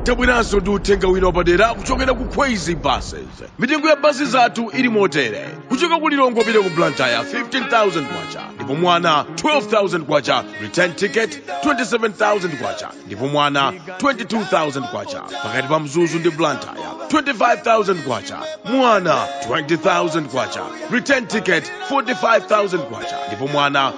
tabweranso ndi uthenga wina wapadera kuchokera ku kwezy buses mitengo ya basi zathu ili motere kuchoka ku lilongwe kupita ku blantyre 15000 kwacha ndipo mwana 12000 kwacha return ticket 27000 kwacha ndipo mwana 22000 kwacha pakati pa mzuzu ndi blantyre 25000 kwacha mwana 20000 kwacha return ticket 45000 kwacha ndipo mwana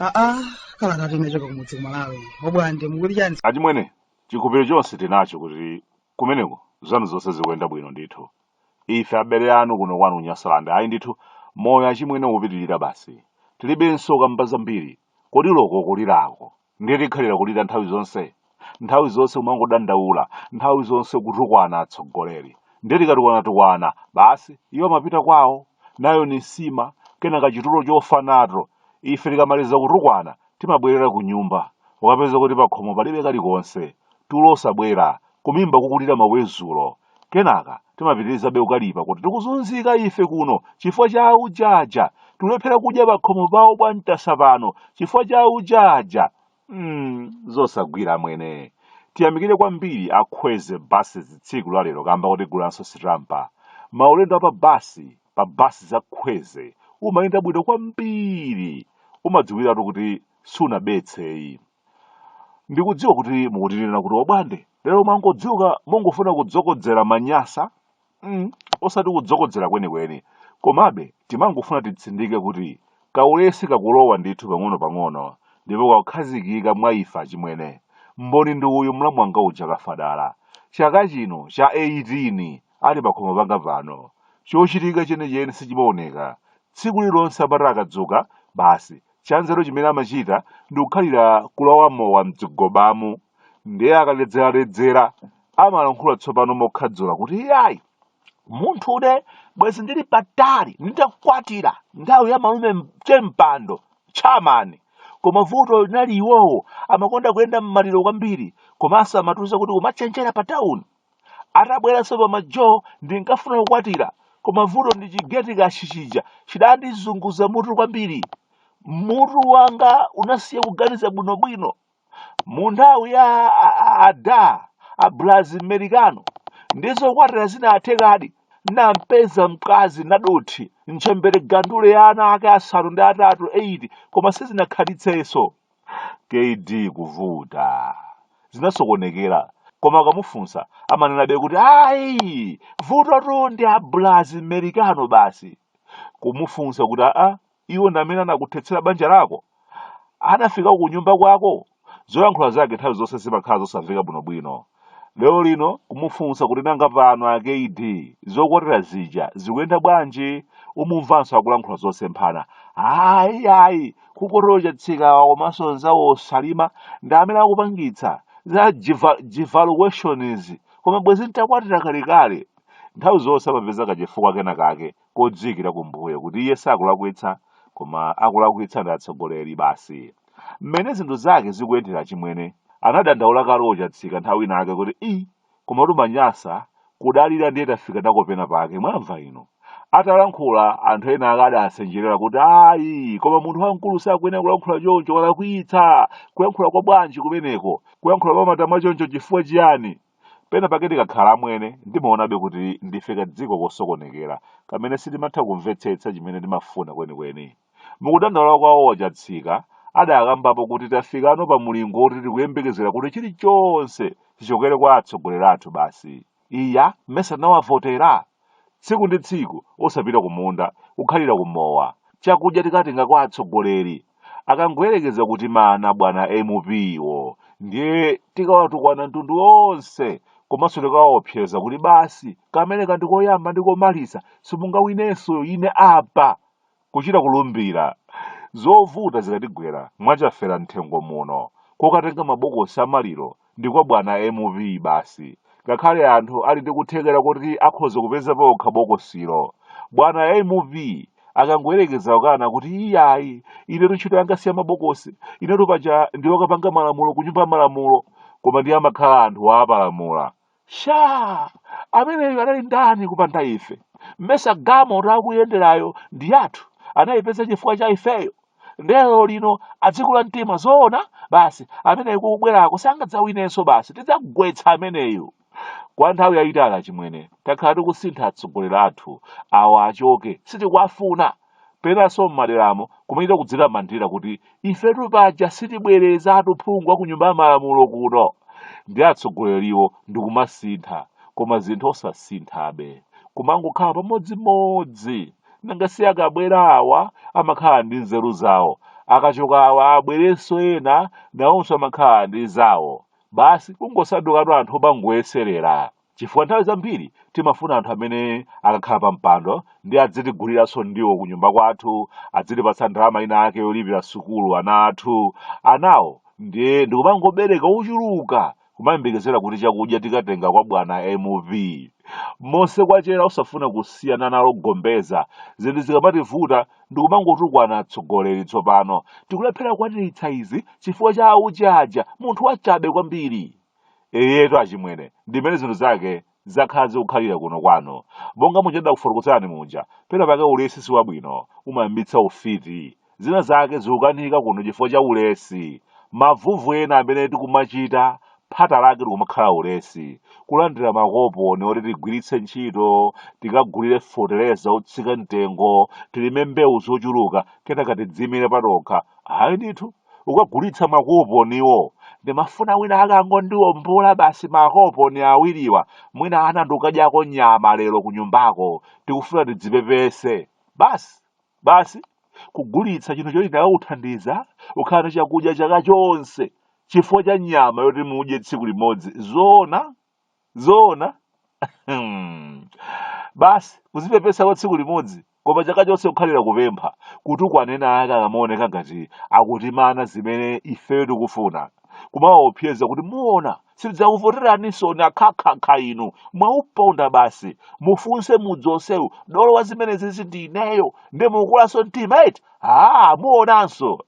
aa kalata inachoka kumudzi ku malawi obwande mukuti chani achimwene chikhupiro chonse tinacho kuti kumeneko zanu zonse zikuyenda bwino ndithu ife abale anu kuno kwanu ku nyasalande ayi ndithu moyo achimwene ukupitirira basi tilibenso kamba zambiri Kodi loko kulirako ndiye tikhalira kulira nthawi zonse? Nthawi zonse kumangodandaula, nthawi zonse kutukwana atsogoleri. Ndiye tikatukwana-tukwana, basi, iwo amapita kwao, nayo ni nsima, kenaka chitulo chofa nato. Ife tikamaliza kutukwana, timabwerera kunyumba, ukapeza kuti pakhomo palibe kalikonse, tulo osabwera, kumimba kukulira mawezulo. Kenaka timapitirizabe kukalipa kuti tikuzunzika ife kuno chifukwa cha auja aja, tikulephera kudya pakhomo pawo bwa Ntasa pano chifukwa cha auja aja. Hmm, zosagwira amwene. Tiyamikire kwambiri a Kwezy Buses tsiku la lero kamba kotigulanso sitampa. Maulendo a pa basi, pa basi za Kwezy, umayenda bwino kwambiri. Umadziwiratu kuti sunabetseyi. Ndikudziwa kuti mukutinena kuti obwande lero mwangodzuka mungofuna kudzokodzera manyasa mm, osati kudzokodzera kwenikweni komabe timangofuna titsindike kuti kaulesi kakulowa ndithu pang'ono-pang'ono ndipo kakukhazikika mwa ife achimwene mboni ndi uyu mlamu wanga uja kafadala chaka chino cha 18 ali pakhomo panga pano chochitika chenicheni sichimaoneka tsiku lilonse amati akadzuka basi Chanzeru chimene amachita ndi kukhalira kulawa mowa m'zigobamu. Ndiye akaledzeraledzera amalankhula tsopano mokhadzula kuti iyayi, munthune bwezi ndili patali nditakwatira nthawi ya malume Chempando tchamani. Koma vuto linali iwowo amakonda kuyenda m'maliro kwambiri komanso amatiuza kuti kumachenjera pa tawuni. Atabweranso pa majo ndinkafuna kukwatira koma vuto ndi chigeti kashi chija chidandizunguza mutu kwambiri. Mutu wanga unasiya kuganiza bwinobwino. Mu nthawi ya a- a- ada abulazi m'merikano ndi zokwatira zinathekadi. Nampeza mkazi Nadothi ntchembere gandule ya ana ake asanu ndi atatu 8 koma sizinakhalitsenso. kd kuvuta zinasokonekera koma akamufunsa amanenabe kuti ayi vutotu ndi a Blazi Merikano basi kumufunsa kuti aa iwo ndi amene anakuthetsera banja lako anafika ku nyumba kwako zoyankhula zake nthawi zonse zimakhala zosamveka bwinobwino Lero lino kumufunsa kuti nanga pano a KD zokwatira zija zikuyenda bwanji umumvanso akulankhula zosemphana ayi ayi kukotero a Chatsikawa komanso nzawo Osalima ndi amene akupangitsa za devaluations koma bwezi ntakwatira kalekale nthawi zonse amapeza kachifukwa kena kake kodziikira kumbuyo kuti iye sakulakwitsa koma akulakwitsa ndi atsogoleri basi. Mmene zinthu zake zikuyendera achimwene, anadandaula Kalo Chatsika nthawi inayake kuti ii koma tumanyasa kudalira ndiye tafika nako pena pake mwamva inu. Atalankhula anthu ena ake adasenjerera kuti ayi koma munthu wamkulu sakuyenera kulankhula choncho walakwitsa kuyankhula kwa bwanji kumeneko kuyankhula kwa matama choncho chifukwa chiyani Pena pake tikakhala amwene, ndimaonabe kuti ndife kadziko kosokonekera kamene sitimatha kumvetsetsa chimene timafuna kwenikweni. Mu kudandaula kwawo a Chatsika adakambapo kuti tafikano pa mulingo woti tikuyembekezera kuti chilichonse chichokere kwa atsogoleri athu basi. Iya, mesa tinawavotera? tsiku ndi tsiku osapita kumunda kukhalira kumowa chakudya tikatenga kwa atsogoleri akangoyerekeza kutimana bwana MP-wo ndiye tikawatukwana mtundu wonse komanso tikawaopseza kuti basi kameneka ndi koyamba ndi komaliza simungawinenso ine apa kuchita kulumbira. Zovuta zikatigwera mwa Chafera Mthengo muno, kokatenga mabokosi a maliro ndi kwa bwana M.P. basi. Ngakhale anthu ali ndi kuthekera koti akhoza kupeza paokha bokosilo, bwana M.P. akangoyerekeza kukana kuti iyayi, inetu ntchito yanga si ya mabokosi, inetu paja ndi wokapanga malamulo ku Nyumba ya Malamulo, koma ndiye amakhala atapalamula. sha ameneyo anali ndani kupanda ife mmesa galimoto akuyenderayo ndi yathu anayipeza chifukwa cha ifeyo nde lero lino adzikula mtima zoona basi ameneyo kukubwerako sangadzawinenso basi tidzagwetsa ameneyo kwa nthawi yayitali achimwene takhala tikusintha atsogoleri athu awa achoke sitikuwafuna penanso m'maderamo kumachita kudzitamandira kuti ifetu paja sitibwerezatu phungu wa ku nyumba ya malamulo kuno ndi atsogoleriwo ndi kumasintha koma zinthu osasinthabe kumangokhala pamodzimodzi nanga si akabwera awa amakhala ndi nzeru zawo akachoka awa abwerenso ena nawonso amakhala ndi zawo basi kungosandukatu anthu opangoyeserera chifukwa nthawi zambiri timafuna anthu amene akakhala pa mpando ndiye adzitiguliranso ndiwo ku nyumba kwathu adzitipatsa ndalama ina ake yolipira sukulu ana athu anawo ndiye ndikumangobereka ochuluka kumayembekezera kuti chakudya tikatenga kwa bwana MP monse kwachera osafuna kusiyana nalo gombeza zinthu zikamativuta ndikumangotukwana atsogoleri tsopano tikulephera kukwaniritsa izi chifukwa cha aujaja munthu wachabe kwambiri Eyetu achimwene, ndimene zinthu zake zakhala zikukhalira kuno kwanu. Monga muja ndidakufotokozerani muja, pena pake ulesi si wabwino, umayambitsa ufiti. Zina zake zikukanika kuno chifukwa cha ulesi. Mavuto ena amene tikumachita, phata lake likumakhala ulesi. Kulandira makoponi oti tigwiritse ntchito, tikagulire feteleza otsika mtengo, tilime mbewu zochuluka, kenaka tidziimire patokha. Ayi ndithu. kukagulitsa makoponiwo ndimafuna wina ake angondiombola basi makoponi awiriwa mwina ana ndi kudyako nyama lero kunyumbako tikufuna tidzipepese basi basi kugulitsa chinthu choti chikanakuthandiza kukhala ndi chakudya chaka chonse chifukwa cha nyama yoti mudye tsiku limodzi zoona zoona Hmm. basi kuzipepesa kwa tsiku limodzi koma chaka chonse kukhalira kupempha kutukwana ena ake akamaoneka ngati akutimana zimene ifeyo tikufuna kumawaopseza kuti muona sitidzakuvoteraninsoni akhakhakha inu mwauponda basi mufunse mudzi onsewu dolo wa zimenezizi ndi ineyo nde mukulanso mtima eti aa muonanso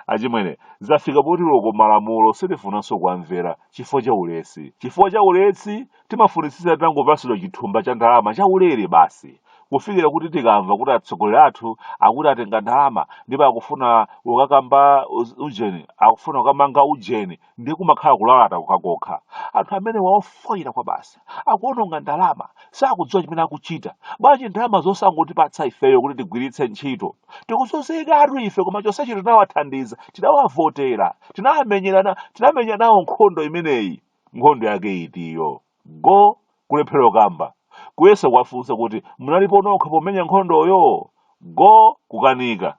achimwene zafika poti loko malamulo sitifunanso kuwamvera chifukwa cha ulesi chifukwa cha ulesi timafunitsitsa titangopatsidwa chithumba cha ndalama cha ulere basi kufikira kuti tikamva kuti atsogoleri athu akuti atenga ndalama ndipo akufuna kukakamba uz- ujeni akufuna kukamanga ujeni ndiye kumakhala kulalata kokhakokha anthu amenewa ofoyira kwabasi akuononga ndalama sakudziwa chimene akuchita bwanji ndalama zosangotipatsa ifeyo kuti tigwiritse ntchito tikuzunzikatu ife koma chonsechi tinawathandiza tinawavotera tinamenyerana tinamenya nawo nkhondo imeneyi nkhondo yake itiyo Go kulephera kukamba kuyesa kuwafunsa kuti munalipo nokha pomenya nkhondoyo go kukanika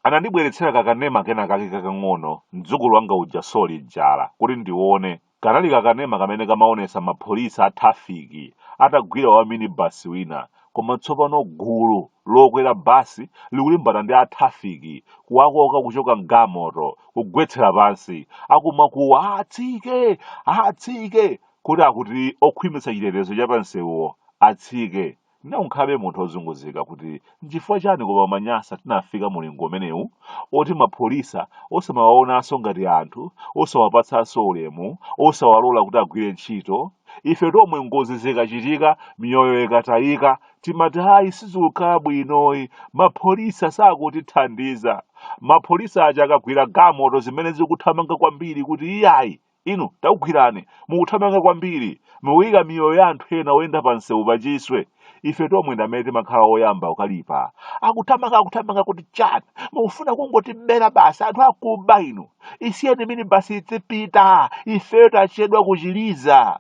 anandibweretsera kakanema kena kake kakang'ono mdzukulu wanga uja soli jala kuti ndione kanali kakanema kamene kamaonesa mapolisi a trafiki atagwira wa minibasi wina Koma tsopano gulu lokwera bus likulimbana ndi a traffic kuwakoka kuchoka m'gamoto kugwetsera pansi akumakuwa atsike! atsike! kuti akuti okhwimitsa chitetezo cha pansewuwo atsike. Nde unkhalabe munthu ozunguzika kuti nchifukwa chani koma Amanyasa tinafika mulingo umenewu oti mapholisa osamawaonanso ngati anthu, osawapatsanso ulemu, osawalola kuti agwire ntchito. Ife tomwe ngozi zikachitika miyoyo ikatayika timati hayi sizikukhala bwinoyi mapholisa sakutithandiza. Mapholisa aja akagwira gamoto zimene zikuthamanga kwambiri kuti iyayi inu takugwirani mukuthamanga kwambiri mukuyika miyoyo ya anthu ena oyenda pa msewu pachiswe. ife tomwe ndi amene timakhala oyamba kukalipa akuthamanga akuthamanga kuti chani mukufuna kungotibera basi anthu akuba inu isiyeni mini basi idzipita ifeyo tachedwa kuchiliza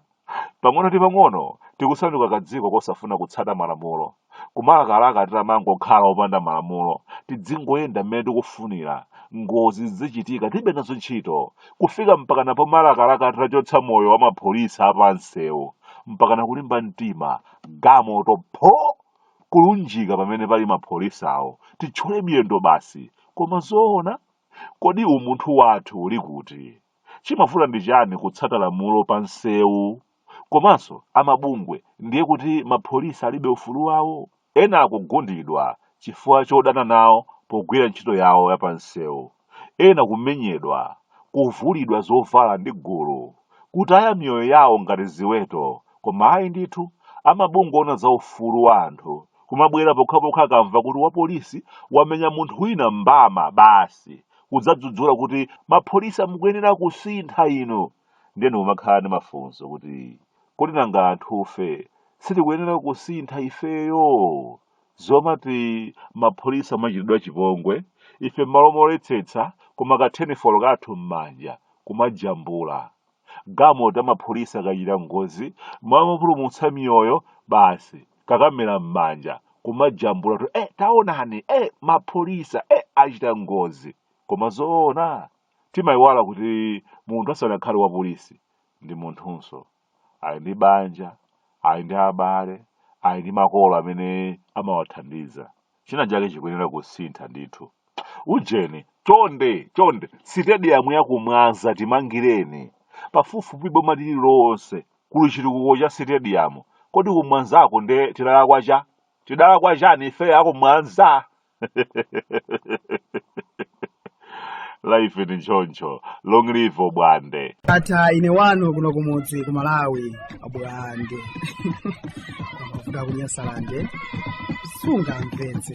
pang'ono ndi pang'ono tikusanduka kadziko kosafuna kutsata malamulo kumalakalaka titamangokhala opanda malamulo tidzingoyenda mmene tikufunira ngozi zidzichitika tilibe nazo ntchito kufika mpakana pomalakalaka titachotsa moyo wa mapholisa apansewu mpakana kulimba mtima gamoto pho kulunjika pamene pali mapholisawo titchole miyendo basi koma zoona kodi umunthu wathu uli kuti chimavuta ndi chani kutsata lamulo pa nsewu Komanso amabungwe ndiye kuti ma police alibe ufulu wawo? Ena kugundidwa chifukwa chodana nawo pogwira ntchito yawo ya pansewu, ena kumenyedwa, kuvulidwa zovala ndi gulu, kutaya miyoyo yawo ngati ziweto koma ayi ndithu amabungwe oona za ufulu wa anthu kumabwera pokhapokha akamva kuti wa police wamenya munthu wina mbama basi kudzadzudzula kuti ma police mukuyenera kusintha inu! ndiye umakhala ndi mafunso kuti kodi nanga anthufe sitikuyenera kusintha ifeyo zomati mapholisa amachitidwa chipongwe ife m'malo moletsetsa koma kathenifolo kathu m'manja kumajambula gamoto ya mapholisa ikachita ngozi m'malo mopulumutsa miyoyo basi kakamera m'manja kumajambula kuti eh, taonani eh, mapholisa eh, achita ngozi koma zoona Timaiwala kuti munthu asanakhale wapolisi ndi munthunso. Ali ndi banja, ali ndi abale, ali ndi makolo amene amawathandiza. China chake chikuyenera kusintha ndithu. Ujeni, chonde, chonde, sitediyamu ya ku Mwanza timangireni. Pafupifupi boma lililonse kuli chitukuko cha sitediyamu. Kodi ku Mwanzako nde tidalakwa cha? Tidalakwa chani ife a ku Mwanza? life ni choncho long live obwande ata ine wanu kuno kumudzi ku malawi abwande amavuta kunyasalande sungamvetse